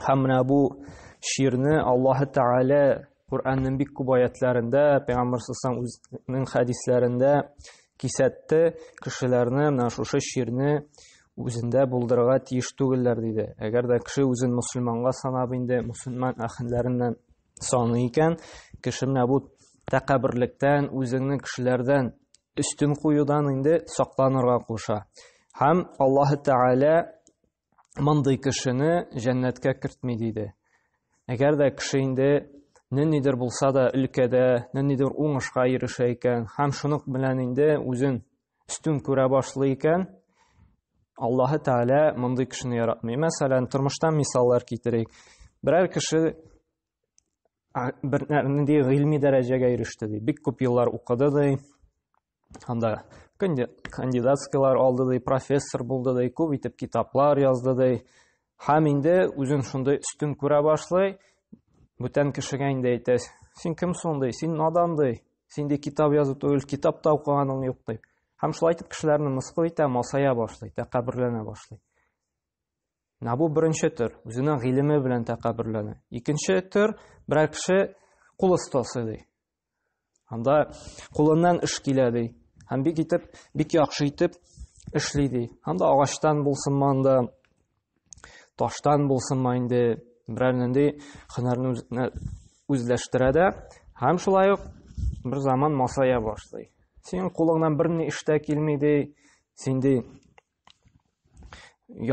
Һәм менә бу ширне Аллаһы Тәгалә Куранның бик күп аятларында, Пәйгамбер саллаллаху үзенең хәдисләрендә кисәтте, кешеләрне менә шушы ширне үзендә булдырырга тиеш түгелләр диде. Әгәр дә кеше үзен мусульманга санап инде мусульман әхенләреннән саный икән, кеше менә бу тәкәбберлектән, үзеңне кешеләрдән өстен куюдан инде сакланырга куша. Һәм Аллаһы Тәгалә мондый кешене җәннәткә кертми диде. Әгәр дә кеше инде ниндидер булса да өлкәдә, ниндидер уңышка ирешә икән, һәм шуның белән инде үзен өстен күрә башлый икән, Аллаһы Тәгалә мондый кешене яратмый. Мәсәлән, тормыштан мисаллар китерик. Берәр кеше бер нинди гыйльми дәрәҗәгә иреште ди. Бик күп еллар укыды ди. анда кандидатскийлар алды ди профессор булды ди күп итеп китаплар язды ди һәм инде үзен шундый өстен күрә башлый бүтән кешегә инде әйтә син кем соң ди син надан ди син ди китап язу түгел китап та укыганың юк ди һәм шулай итеп кешеләрне мыскыл итә масая башлый тәкәбберләнә башлый менә бу беренче төр үзенең гыйлеме белән тәкәбберләнә икенче төр берәр кеше кул остасы ди Анда кулыннан эш килә ди. Һәм бик итеп, бик яхшы итеп эшли ди. Анда агачтан булсын манда, таштан булсын ма инде берәр нинди һөнәрне үзенә үзләштерә дә һәм шулай ук бер заман масая башлый. Синең кулыңнан бер ни эштә килми ди, син ди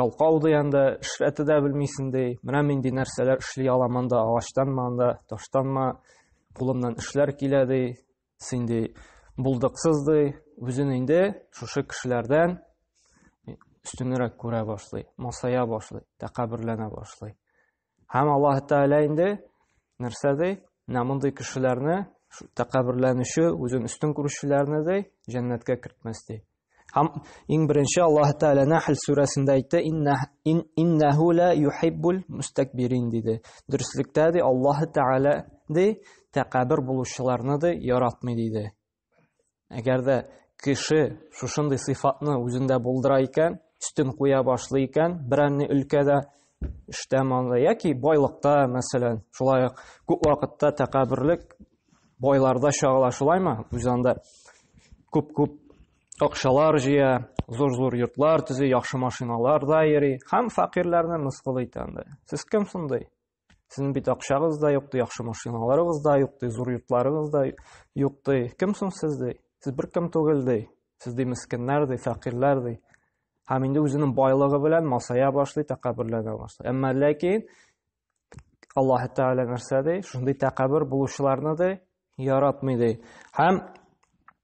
ялкау ди анда эшләтә дә белмисең ди менә нинди нәрсәләр эшли алам анда агачтанмы анда таштанмы кулымнан эшләр килә ди син ди булдыксыз ди үзен инде шушы кешеләрдән өстенрәк күрә башлый масая башлый тәкәберләнә башлый Һәм Аллаһ Тәгалә инде нәрсә ди? Менә мондый кешеләрне, тәкәбберләнүче, үзен өстен күрүчеләрне ди, җәннәткә кертмәс ди. Һәм иң беренче Аллаһ Тәгалә Нәхл сүрәсендә әйтте, иннәһу ла юхиббул мустакбирин диде. Дөреслектә ди Аллаһ Тәгалә ди, тәкәббер булучыларны ди яратмый диде. Әгәр дә кеше шушындый сыйфатны үзендә булдыра икән, өстен куя башлый икән, берәнне өлкәдә эштә монда яки байлыкта, мәсәлән, шулай ук күп вакытта тәкәбберлек байларда чагыла, шулаймы? Үз анда күп-күп акчалар җыя, зур-зур йортлар төзи, яхшы машиналарда йөри һәм факирләрне мыскыл итә анда. Сез кем шундый? Сезнең бит акчагыз да юк, ди, яхшы машиналарыгыз да юк, ди, зур йортларыгыз да юк, ди. Кем соң сез, ди? Сез бер кем түгел, ди. Сез ди мескеннәр, ди, фәкыйрьләр, ди. Һәм инде үзенең байлыгы белән масая башлый, тәкәбберләнә башлый. Әмма ләкин Аллаһ Тәгалә нәрсә ди? Шундый тәкәббер булучыларны ди, яратмый ди. Һәм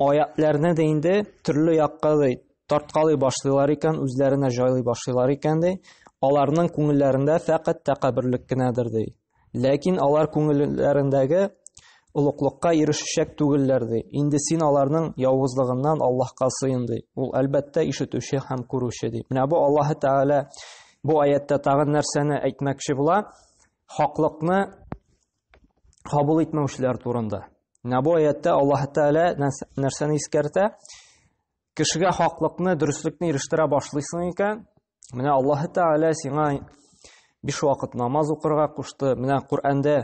Аятьләрне дә инде төрле якка ди тарткалый башлыйлар икән, үзләренә җайлый башлыйлар икән ди. Аларның күңелләрендә фәкать тәкәбберлек кенәдер ди. Ләкин алар күңелләрендәге олуклыкка ирешәчәк түгелләр ди. Инде син аларның явызлыгыннан Аллаһка сыен ди. Ул әлбәттә ишетүче һәм күрүче ди. Менә бу Аллаһы Тәгалә бу аятьтә тагын нәрсәне әйтмәкче була? Хаклыкны кабул итмәүчеләр турында. Менә бу аятта Аллаһ Тәгалә нәрсәне искәртә? Кешегә хаклыкны, дөреслекне ирештерә башлыйсың икән, менә Аллаһ Тәгалә сиңа биш вакыт намаз укырга кушты. Менә Коръәндә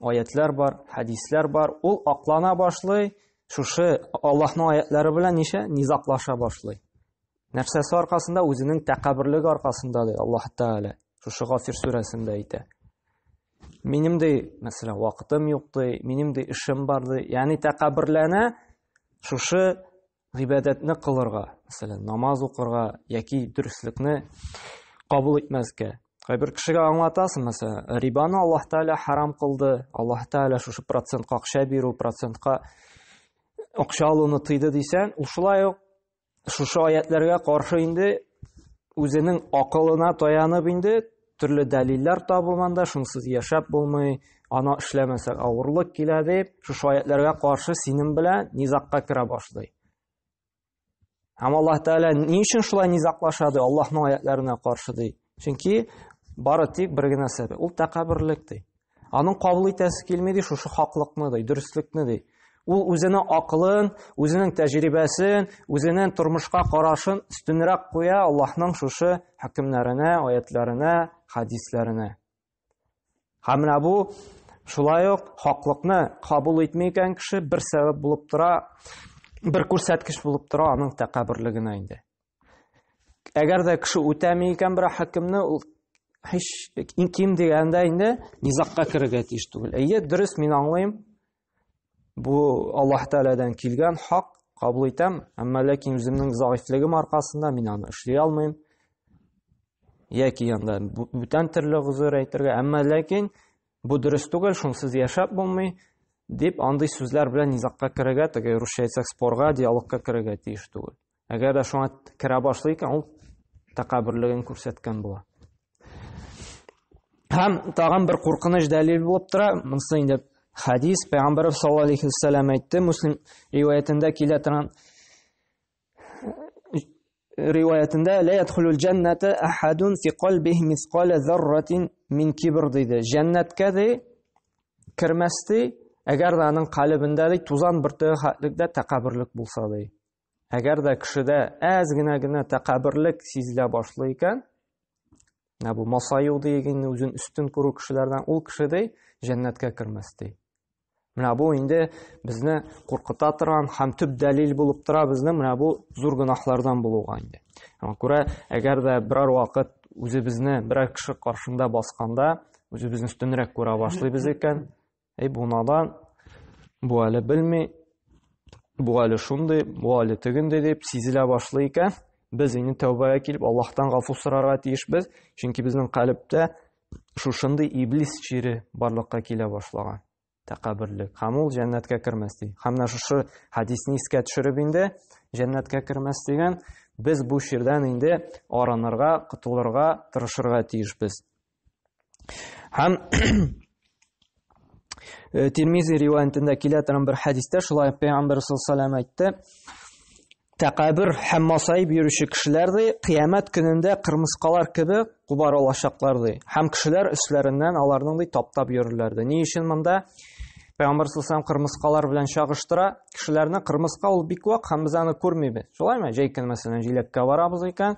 аятлар бар, хәдисләр бар. Ул аклана башлый, шушы Аллаһның аятлары белән ничә низаклаша башлый. Нәрсәсе аркасында? Үзенең тәкәбберлеге аркасында ди Аллаһ Тәгалә. Шушы Гафир сүрәсендә әйтә. Минем ди, мәсәлән, вакытым юк ди, минем ди эшем бар ди. Ягъни тәкәбберләнә шушы гыйбадәтне кылырга, мәсәлән, намаз укырга яки дөреслекне кабул итмәскә. Кайбер кешегә аңлатасың, мәсәлән, рибаны Аллаһ Тәгалә харам кылды, Аллаһ Тәгалә шушы процентка акча бирү, процентка акча алуны тыйды дисәң, ул шулай ук Шушы аятләргә каршы инде үзенең акылына таянып инде төрле дәлилләр табылганда шунсыз яшәп булмый, ана эшләмәсәк авырлык килә дип, шушы аятләргә каршы синем белән низакка керә башлый. Һәм Аллаһ Тәгалә ни өчен шулай низаклаша ди? Аллаһның аятларына каршы ди. Чөнки бары тик бер генә сәбәп, ул тәкәбберлек ди. Аның кабул итәсе килми ди шушы хаклыкны ди, дөреслекне ди. Ул үзенең акылын, үзенең тәҗрибәсен, үзенең тормышка карашын өстенрәк куя Аллаһның шушы хөкемнәренә, аятларына, хадисләренә. Һәм менә бу шулай ук хаклыкны кабул итми икән кеше бер сәбәп булып тора, бер күрсәткеч булып тора аның тәкәбберлегенә инде. Әгәр дә кеше үтәми икән бер хакимне, ул һич иң ким дигәндә инде низакка керергә тиеш түгел. Әйе, дөрес, мин аңлыйм. Бу Аллаһ Тәгаләдән килгән хак, кабул итәм, әмма ләкин үземнең заифлегем аркасында мин аны эшли алмыйм. Яки янда бүтән төрле гозер әйтергә, әмма ләкин бу дөрес түгел, шунсыз яшәп булмый дип андый сүзләр белән низакка керергә, теге русча әйтсәк спорга, диалогка керергә тиеш түгел. Әгәр дә шуңа керә башлый икән, ул тәкәбберлеген күрсәткән була. Һәм тагын бер куркыныч дәлил булып тора, монысы инде хадис, пәйгамбәр саллаллаһу алейхи ва саллям әйтте, Муслим риваятендә килә торган риваятендә лә ядхулул джанната ахадун фи калбихи мисқала зарратин мин кибр диде. Җәннәткә ди кермәс ди, әгәр дә аның калыбында ди тузан бөртеге хәтлек дә тәкәбберлек булса ди. Әгәр дә кешедә әз генә генә тәкәбберлек сизелә башлый икән, менә бу масаю дигән үзен өстен күрү кешеләрдән ул кеше ди җәннәткә кермәс ди. Менә бу инде безне куркыта торган һәм төп дәлил булып тора безне менә бу зур гөнаһлардан булуга инде. Аңа күрә, әгәр дә берәр вакыт үзебезне берәр кеше каршында басканда, үзебезне өстенрәк күрә башлыйбыз икән, Әй бу надан, бу әле белми, бу әле шундый, бу әле тегендей дип сизелә башлый икән. Без инде тәүбәгә килеп, Аллаһтан гафу сорарга тиешбез, чөнки безнең калептә шушындый иблис чире барлыкка килә башлаган. Тәкәбберлек. Һәм ул җәннәткә кермәс ди. Һәм менә шушы хадисне искә төшереп инде җәннәткә кермәс дигән, без бу чирдән инде арынырга, котылырга тырышырга тиешбез. Һәм э, Тирмизи риваятендә килә торган бер хәдистә шулай Пәйгамбәр саллаллаху әйтте. Тәкәбир һәм масаип йөрүче кешеләр ди, кыямәт көнендә кырмыскалар кебек кубар алачаклар ди. Һәм кешеләр өсләреннән аларның ди таптап йөрерләр ди. Ни өчен монда? Пәйгамбәр саллаллаху кырмыскалар белән чагыштыра. Кешеләрне кырмыска ул бик вак һәм без аны күрмибез. Шулаймы? Җәй көн мәсәлән җиләккә барабыз икән,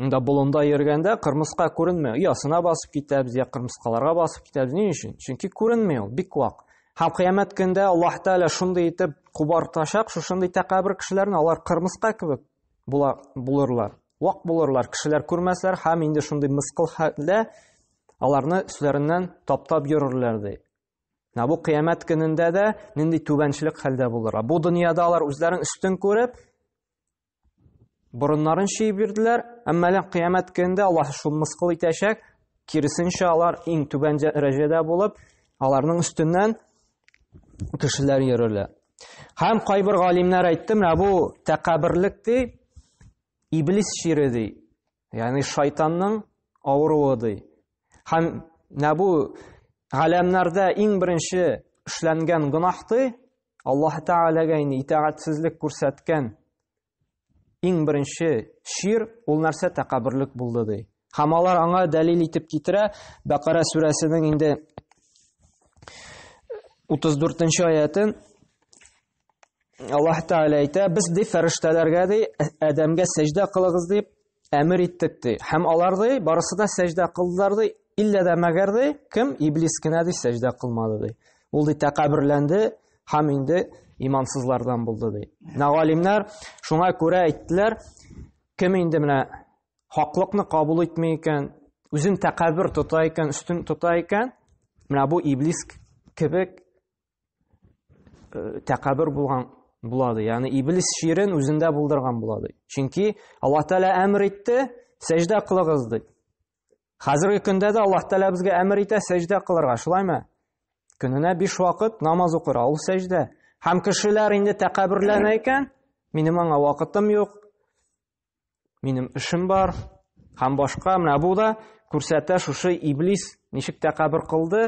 Монда болында йөргәндә кырмыска күренмәй. Оясына басып китәбез, я кырмыскаларга басып китәбез. Ни өчен? Чөнки күренми ул, бик вак. Һәм кыямәт көндә Аллаһ Тәгалә шундый итеп кубартачак, шушындый тәкәбер кешеләрне, алар кырмыска кебек була булырлар. Вак булырлар, кешеләр күрмәсләр һәм инде шундый мыскыл хәлдә аларны өсләреннән таптап йөрерләр ди. Менә бу кыямәт көнендә дә нинди түбәнчелек хәлдә булырга. Бу дөньяда алар үзләрен өстен күреп, Борыннарын чөеп бирделәр, әмма әле кыямәт көнендә Аллаһ шул мыскыл итәчәк, киресенчә алар иң түбән дәрәҗәдә булып, аларның өстеннән кешеләр йөрерләр. Һәм кайбер галимнәр әйтте, менә бу тәкәбберлек ди, иблис чире ди. Ягъни шайтанның авыруы ди. Һәм менә бу галәмнәрдә иң беренче эшләнгән гөнаһ ди. Аллаһ Тәгаләгә инде итагатьсезлек күрсәткән иң беренче шир ул нәрсә тәкәбберлек булды ди. Һәм алар аңа дәлил итеп китерә Бәкара сүрәсенең инде 34 нче аятын Аллаһ Тәгалә әйтә, без ди фәрештәләргә ди Адәмгә сәҗдә кылыгыз дип әмер иттек ди. Һәм алар ди барысы да сәҗдә кылдылар ди, иллә дә мәгәр ди кем иблис кенә ди сәҗдә кылмады ди. Ул ди тәкәбберләнде һәм инде имансызлардан булды ди. Менә галимнәр шуңа күрә әйттеләр, кем инде менә хаклыкны кабул итми икән, үзен тәкәббер тота икән, өстен тота икән, менә бу иблис кебек э, тәкәббер булган була ди. Ягъни иблис ширен үзендә булдырган була ди. Чөнки Аллаһ Тәгалә әмер итте, сәҗдә кылыгыз ди. Хәзерге көндә дә Аллаһ Тәгалә безгә әмер итә сәҗдә кылырга, шулаймы? Көненә 5 вакыт намаз укыра, ул сәҗдә. Һәм кешеләр инде тәкәбберләнә икән, минем аңа вакытым юк. минем эшем бар һәм башка менә бу да күрсәтә шушы иблис ничек тәкәбер кылды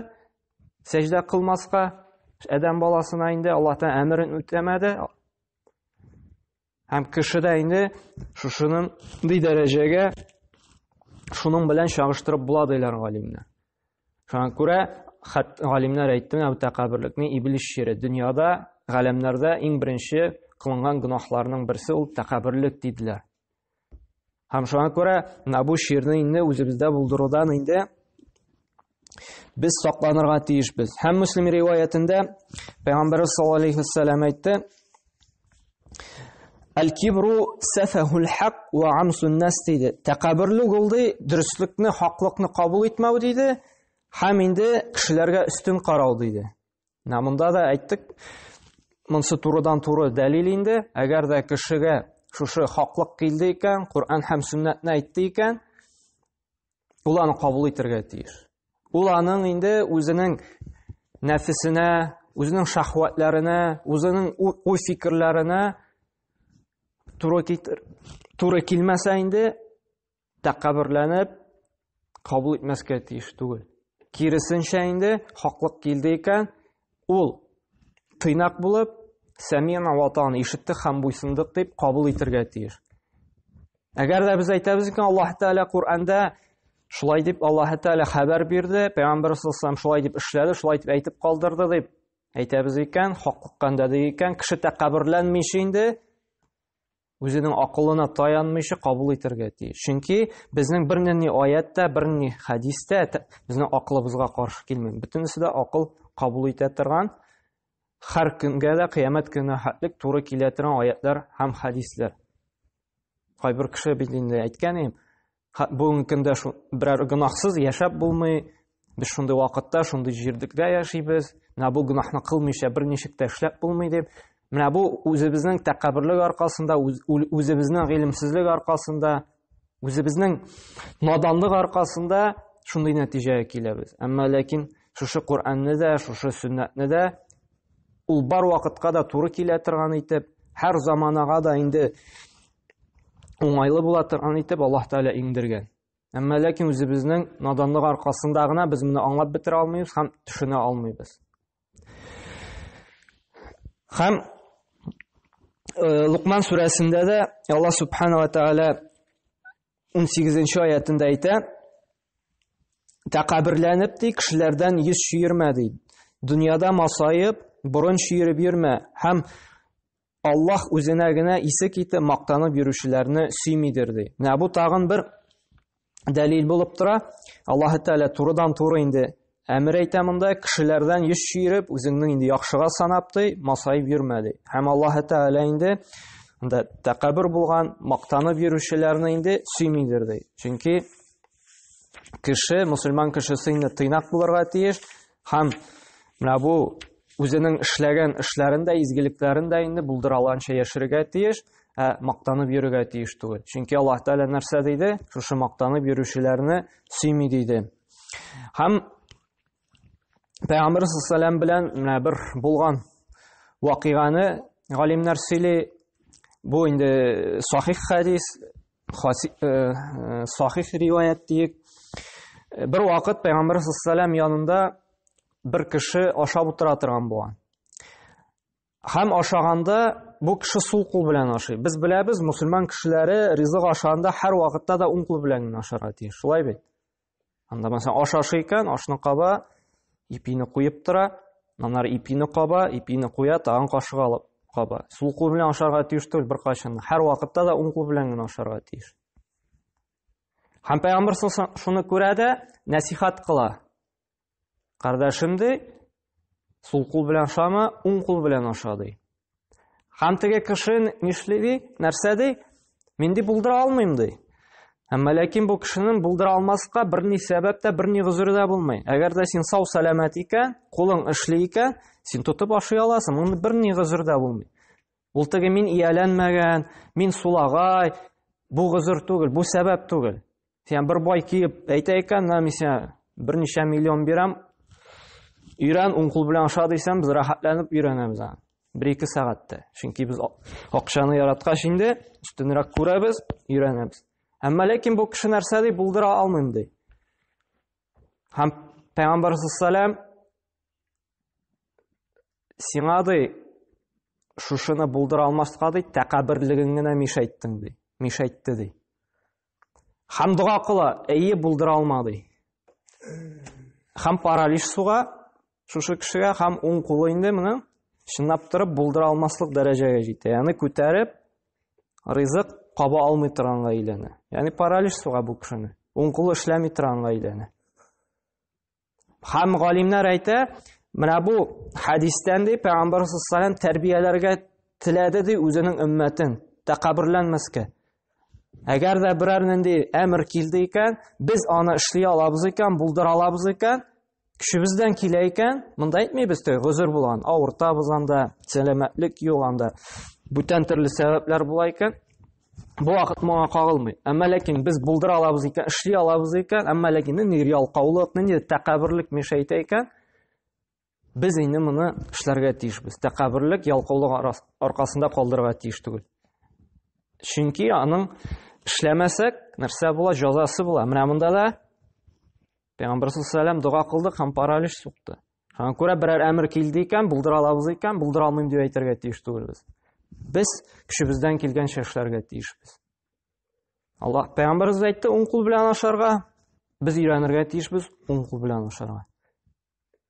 сәҗдә кылмаска адәм баласына инде алла тәгалә әмерен үтәмәде һәм кеше дә инде шушының дәрәҗәгә шуның белән чагыштырып була диләр галимнәр Шуңа күрә хат галимнәр әйтте, бу тәкәбберлекне иблис шире. Дөньяда, галәмнәрдә иң беренче кылынган гөнаһларның берсе ул тәкәбберлек диделәр. Һәм шуңа күрә менә бу ширне инде үзебездә булдырудан инде без сакланырга тиешбез. Һәм Муслим риваятендә Пәйгамбәрбез саллаллаһу алейһи ва әйтте, Аль-кибру сафахул хак ва амсун нас диде. Тәкәбберлек ул ди, дөреслекне, хаклыкны кабул итмәү диде, һәм инде кешеләргә өстен карау диде. Менә монда да әйттек, монсы турыдан туры дәлил инде, әгәр дә кешегә шушы хаклык килде икән, Коръән һәм сүннәтне әйтте икән, Ул аны кабул итәргә тиеш. Ул аның инде үзенең нәфесенә, үзенең шахватларына, үзенең уй-фикерләренә туры китер. Туры килмәсә инде тәкәбберләнеп кабул итмәскә тиеш түгел. Киресенчә инде хаклык килде икән, Ул тыйнак булып, Сәмина ватан ишеттек һәм буйсындык дип кабул итергә тиеш. Әгәр дә без әйтәбез икән, Аллаһ Тәгалә Коръәндә шулай дип Аллаһ Тәгалә хәбәр бирде, пәйгамбәр саллаллаху шулай дип эшләде, шулай дип әйтеп калдырды дип әйтәбез икән, хаклыкка өндәде икән, кеше тәкәбберләнмичә инде Үзенең акылына таянмыйча кабул итәргә тиеш. Чөнки безнең бернинди аят та, бернинди хәдис тә безнең акылыбызга каршы килми. Бөтенесе дә акыл кабул итә торган, һәр көнгә дә кыямәт көненә хәтлек туры килә торган аятлар һәм хәдисләр. Кайбер кеше бит инде әйткән, бүгенге көндә берәр гөнаһсыз яшәп булмый без шундый вакытта шундый җирдекдә яшибез менә бу гөнаһны кылмыйча бер ничек тә эшләп булмый дип менә бу үзебезнең тәкәбберлек аркасында үзебезнең гыйлемсезлек аркасында үзебезнең наданлык аркасында шундый нәтиҗәгә киләбез әмма ләкин шушы Коръәнне дә шушы сөннәтне дә ул бар вакытка да туры килә торган итеп һәр заманага да инде уңайлы була торган итеп Аллаһ Тәгалә иңдергән. Әмма ләкин үзебезнең наданлык аркасында гына без моны аңлап бетерә алмыйбыз һәм төшенә алмыйбыз. Һәм э, Лукман сүрәсендә дә Аллаһ Субханала Тәгалә 18 аятында әйтә, тәкәберләнеп ди, кешеләрдән йөз чөермә ди. Дөньяда масаеп, борын чөереп йөрмә һәм Аллаһ үзенә генә исе китеп мактанып йөрүчеләрне сөймидер ди. Менә бу тагын бер дәлил булып тора. Аллаһ Тәгалә турыдан туры инде әмер әйтә монда, кешеләрдән йөз чөйреп, үзеңнең инде яхшыга санап ди, масаеп йөрмә ди. Һәм Аллаһ Тәгалә инде анда тәкәббер булган, мактанып йөрүчеләрне инде сөймидер ди. Чөнки кеше, мусульман кешесе инде тыйнак булырга тиеш, Һәм менә бу үзенең эшләгән эшләрен дә, изгелекләрен дә инде булдыра алганча яшәргә тиеш, ә мактанып йөрергә тиеш түгел. Чөнки Аллаһ Тәгалә нәрсә диде? Шушы мактанып йөрүчеләрне сөйми диде. Һәм Пәйгамбер саллаллаху белән менә бер булган вакыйганы галимнәр сөйли. Бу инде сахих хадис, Хаси, э, э, сахих риваят диек. Э, бер вакыт Пәйгамбәр саллаллаху янында бер кеше ашап утыра торган булган. Һәм ашаганда бу кеше сул кул белән ашый. Без беләбез, мусульман кешеләре ризык ашаганда һәр вакытта да уң кул белән генә ашарга тиеш. Шулай бит? Анда мәсәлән аш ашый икән, ашны каба, ипине куеп тора, аннары ипине каба, ипине куя, тагын кашык алып каба. Сул кул белән ашарга тиеш түгел беркайчан. Һәр вакытта да уң кул белән генә ашарга тиеш. Һәм пәйгамбер шуны күрә дә нәсихат кыла. Кардәшем ди, сул кул белән ашама, уң кул белән аша ди. Һәм теге кеше нишли ди, нәрсә ди? Мин ди булдыра алмыйм ди. Әмма ләкин бу кешенең булдыра алмаска берни сәбәп тә, берни гозер дә булмый. Әгәр дә син сау сәламәт икән, кулың эшли икән, син тотып ашый аласың, моны берни гозер дә булмый. Ул теге мин ияләнмәгән, мин сулагай, бу гозер түгел, бу сәбәп түгел. Сен бер бай киеп әйтә икән, менә мин сиңа берничә миллион бирәм. Өйрән, уң кул белән аша дисәм, без рәхәтләнеп өйрәнәбез аны. Бер ике сәгатьтә. Чөнки без акчаны яраткач инде, өстенрәк күрәбез, өйрәнәбез. Әмма ләкин бу кеше нәрсә ди, булдыра алмыйм ди. Һәм Пәйгамбәр саллаллаһу сиңа ди шушыны булдыра алмаска ди, тәкәбберлегең генә мишәйттең ди. Мишәйтте ди. Хәм дога кыла, әйе булдыра алмады. Хәм паралич суга шушы кешегә хәм уң кулы инде менә чынлап торып булдыра алмаслык дәрәҗәгә җитә. Яны күтәреп ризык каба алмый торганга әйләнә. Яны паралич суга бу кешене. Уң кулы эшләми торганга әйләнә. Һәм галимнәр әйтә, менә бу хәдистән ди, пәйгамбәр саллаллаху тәрбияләргә теләде ди үзенең өммәтен, тәкәбберләнмәскә. Әгәр дә берәр нинди әмер килде икән, без аны эшли алабыз икән, булдыра алабыз икән, көчебездән килә икән, монда әйтмибез тә, гозер булган, авыртабыз анда, сәламәтлек юк анда. Бүтән төрле сәбәпләр була икән, Бу вакыт моңа кагылмый. Әмма ләкин без булдыра алабыз икән, эшли алабыз икән, әмма ләкин нинди ялкаулык, нинди тәкәбберлек мешәйтә икән, без инде моны эшләргә тиешбез. Тәкәбберлек, ялкаулык аркасында калдырырга тиеш түгел. Чөнки аның эшләмәсәк, нәрсә була, җәзасы була. Менә монда да Пәйгамбәр саллаллаху дога кылды һәм паралич сукты. Шуңа күрә берәр әмер килде икән, булдыра алабыз икән, булдыра алмыйм дип әйтергә тиеш түгелбез. Без көчебездән килгәнчә эшләргә тиешбез. Аллаһ пәйгамбәрбез әйтте, уң кул белән ашарга, без өйрәнергә тиешбез уң кул белән ашарга.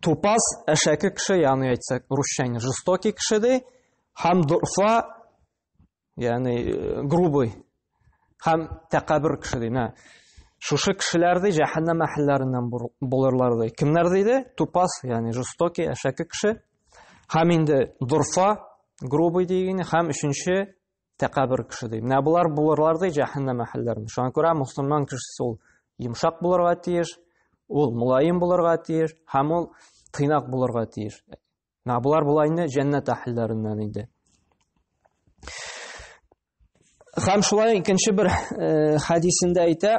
Тупас әшәке кеше, ягъни әйтсәк, русча инде жестокий кеше ди, һәм дурфа, ягъни э, грубый, һәм тәкәббер кеше ди. Менә шушы кешеләр ди җәһәннәм әһелләреннән булырлар ди. Кемнәр диде? Тупас, ягъни жестокий әшәке кеше, һәм инде дурфа, грубый дигәне, һәм өченче Тәкәбер кеше ди. Менә болар булырлар ди җәһәннәм әһелләрен. Шуңа күрә мусламан кешесе ул йомшак булырга тиеш, ул мулаем булырга тиеш һәм ул тыйнак булырга тиеш. Менә болар була инде җәннәт әһелләреннән инде. Һәм шулай икенче бер э, хәдисендә әйтә,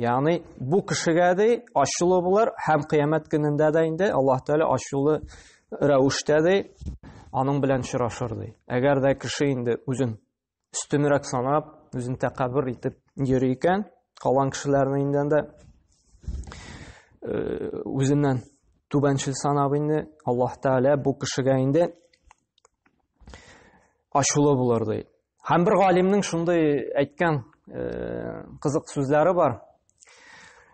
Ягъни бу кешегә ди ачулы булыр һәм кыямәт көнендә дә инде Аллаһ Тәгалә ачулы рәвештә ди аның белән очрашыр ди. Әгәр дә кеше инде үзен өстенрәк санап, үзен тәкәббер итеп йөри икән, калган кешеләрне инде дә э, үзеннән түбәнчел санап инде Аллаһ Тәгалә бу кешегә инде ачулы булыр ди. Һәм бер галимнең шундый әйткән э, кызык сүзләре бар.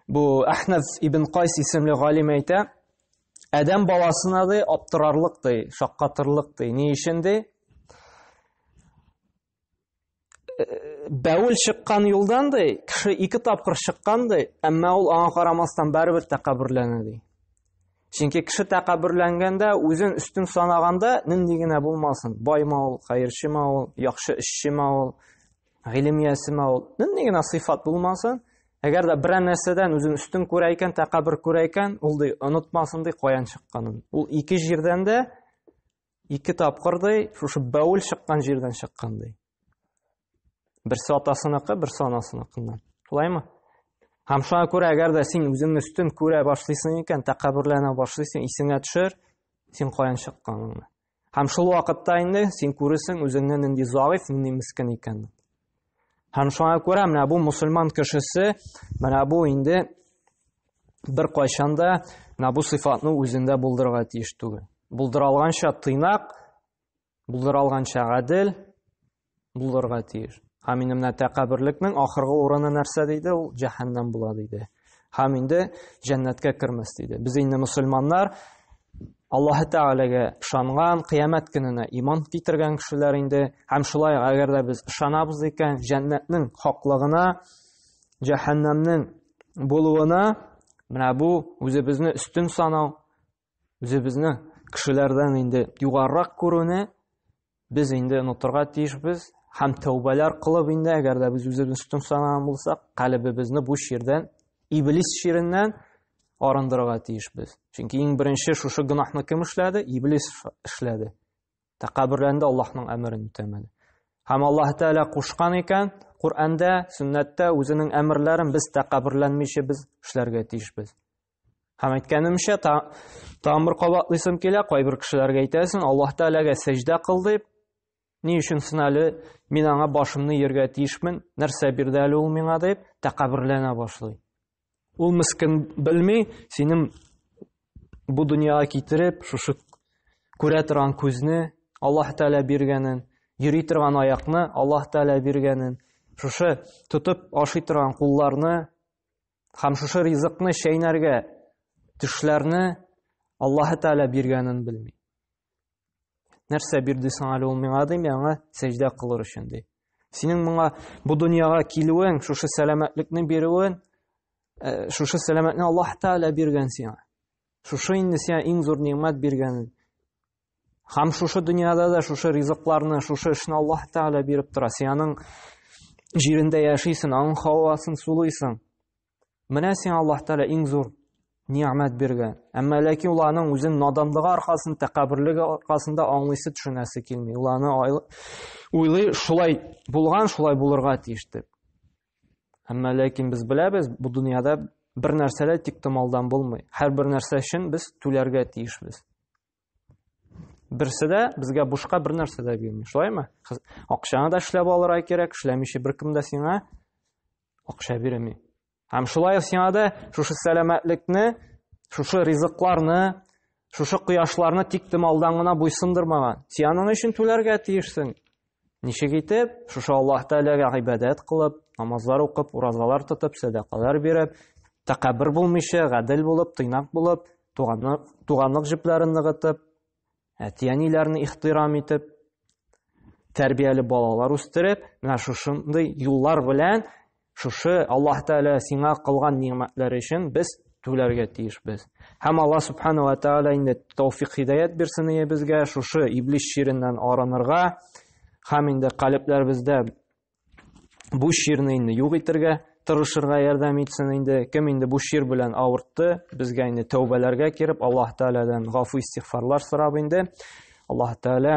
Бу Әхнәф ибн Кайс исемле галим әйтә, Адәм баласына ди аптырарлык ди, шаккатырлык ди. Ни өчен ди? Бәүл чыккан юлдан ди, кеше ике тапкыр чыккан ди, әмма ул аңа карамастан барыбер тәкәбберләнә ди. Чөнки кеше тәкәбберләнгәндә, үзен өстен санаганда, нинди генә булмасын, байма ул, хәерчеме ул, яхшы эшчеме ул, гыйлем иясеме ул, нинди генә сыйфат булмасын, әгәр дә берәр нәрсәдән үзен өстен күрә икән, тәкәббер күрә икән, ул ди, онытмасын ди каян чыкканын. Ул ике җирдән дә Ике тапкыр ди, шушы бәүл чыккан җирдән чыккан ди. Берсе атасыныкы, берсе анасыныкыннан. Шулаймы? Һәм шуңа күрә, әгәр дә син үзеңне өстен күрә башлыйсың икән, тәкәбберләнә башлыйсың, исеңә төшер, син каян чыкканыңны. Һәм шул вакытта инде син күресең үзеңне нинди заиф, нинди мискин икәнен. Һәм шуңа күрә менә бу мусульман кешесе менә бу инде бер кайшанда менә бу сыйфатны үзендә булдырырга тиеш түгел. Булдыралганча тыйнак, булдыралганча гадел булырга тиеш. Һәм инде менә тәкәберлекнең ахыргы урыны нәрсә диде? Ул җәһәннәм була диде. Һәм инде җәннәткә кермәс диде. Без инде мусульманнар Аллаһы Тәгаләгә ышанган, кыямәт көненә иман китергән кешеләр инде. Һәм шулай әгәр дә без ышанабыз икән, җәннәтнең хаклыгына, җәһәннәмнең булуына, менә бу үзебезне өстен санау, Үзебезне кешеләрдән инде югарырак күрүне без инде онытырга тиешбез һәм тәүбәләр кылып инде, әгәр дә без үзебезне өстен санаган булсак, калебебезне бу чирдән, иблис чиреннән арындырырга тиешбез. Чөнки иң беренче шушы гөнаһны кем эшләде? Иблис эшләде. Тәкәбберләнде Аллаһның әмерен үтәмәде. Һәм Аллаһ Тәала кушкан икән, Коръәндә, сөннәттә үзенең әмерләрен без тәкәбберләнмичә без эшләргә тиешбез. Һәм әйткәнемчә, та, тамыр кабатлыйсым килә, кайбер кешеләргә әйтәсең, Аллаһ Тәгаләгә сәҗдә кыл дип, ни өчен син әле мин аңа башымны ияргә тиешмен, нәрсә бирде әле ул миңа дип, тәкәбберләнә башлый. Ул мискин белми, синең бу дөньяга китереп, шушы күрә торган күзне Аллаһ Тәгалә биргәнен, йөри торган аякны Аллаһ Тәгалә биргәнен, шушы тотып ашый торган кулларны Хәм шушы ризыкны чәйнәргә төшләрне Аллаһ Тәгалә биргәнен белми. Нәрсә бирде соң әле ул миңа дим, яңа сәҗдә кылыр өчен ди. Синең моңа бу дөньяга килүең, шушы сәламәтлекне бирүен, э, шушы сәламәтне Аллаһ Тәгалә биргән сиңа. Шушы инде сиңа иң зур нимәт биргәнен Һәм шушы дөньяда да шушы ризыкларны, шушы эшне Аллаһ Тәгалә биреп тора. Син аның җирендә яшисең, аның һавасын сулыйсың. Менә сиңа Аллаһ Тәгалә иң зур ниәмәт биргән. Әмма ләкин ул аның үзен наданлыгы аркасында, тәкәбберлеге аркасында аңлыйсы төшенәсе килми. Ул аны уйлый, шулай булган, шулай булырга тиеш дип. Әмма ләкин без беләбез, бу дөньяда бер нәрсә дә тиктомалдан булмый. Һәр бер нәрсә өчен без түләргә тиешбез. Берсе дә безгә бушка бер нәрсә дә бирми, шулаймы? Акчаны да эшләп алырга кирәк, эшләмичә беркем дә сиңа акча бирми. Һәм шулай ук сиңа да шушы сәламәтлекне, шушы ризыкларны, шушы кояшларны тиктем алдан гына буйсындырмаган. Сианың өчен түләргә тиешсең. Ничек итеп, шушы Аллаһ Тәгаләгә гыйбадәт кылып, намазлар укып, уразалар тотып, сәдакалар биреп, тәкәббер булмыйча, гадел булып, тыйнак булып, туганлык, туганлык җепләрен ныгытып, әти-әниләрне ихтирам итеп, тәрбияле балалар үстереп, менә шушындый юллар белән Шушы Аллаһ Тәгалә сиңа кылган нигъмәтләре өчен без түләргә тиешбез. Һәм Аллаһ Субхана ва Тәгалә инде тауфик хидаят бирсен иебезгә шушы иблис чиреннән арынырга һәм инде калебләребездә бу чирне инде юк итергә тырышырга ярдәм итсен инде. Кем инде бу чир белән авыртты, безгә инде тәүбәләргә кереп, Аллаһ Тәгаләдән гафу истигъфарлар сорап инде. Аллаһ Тәгалә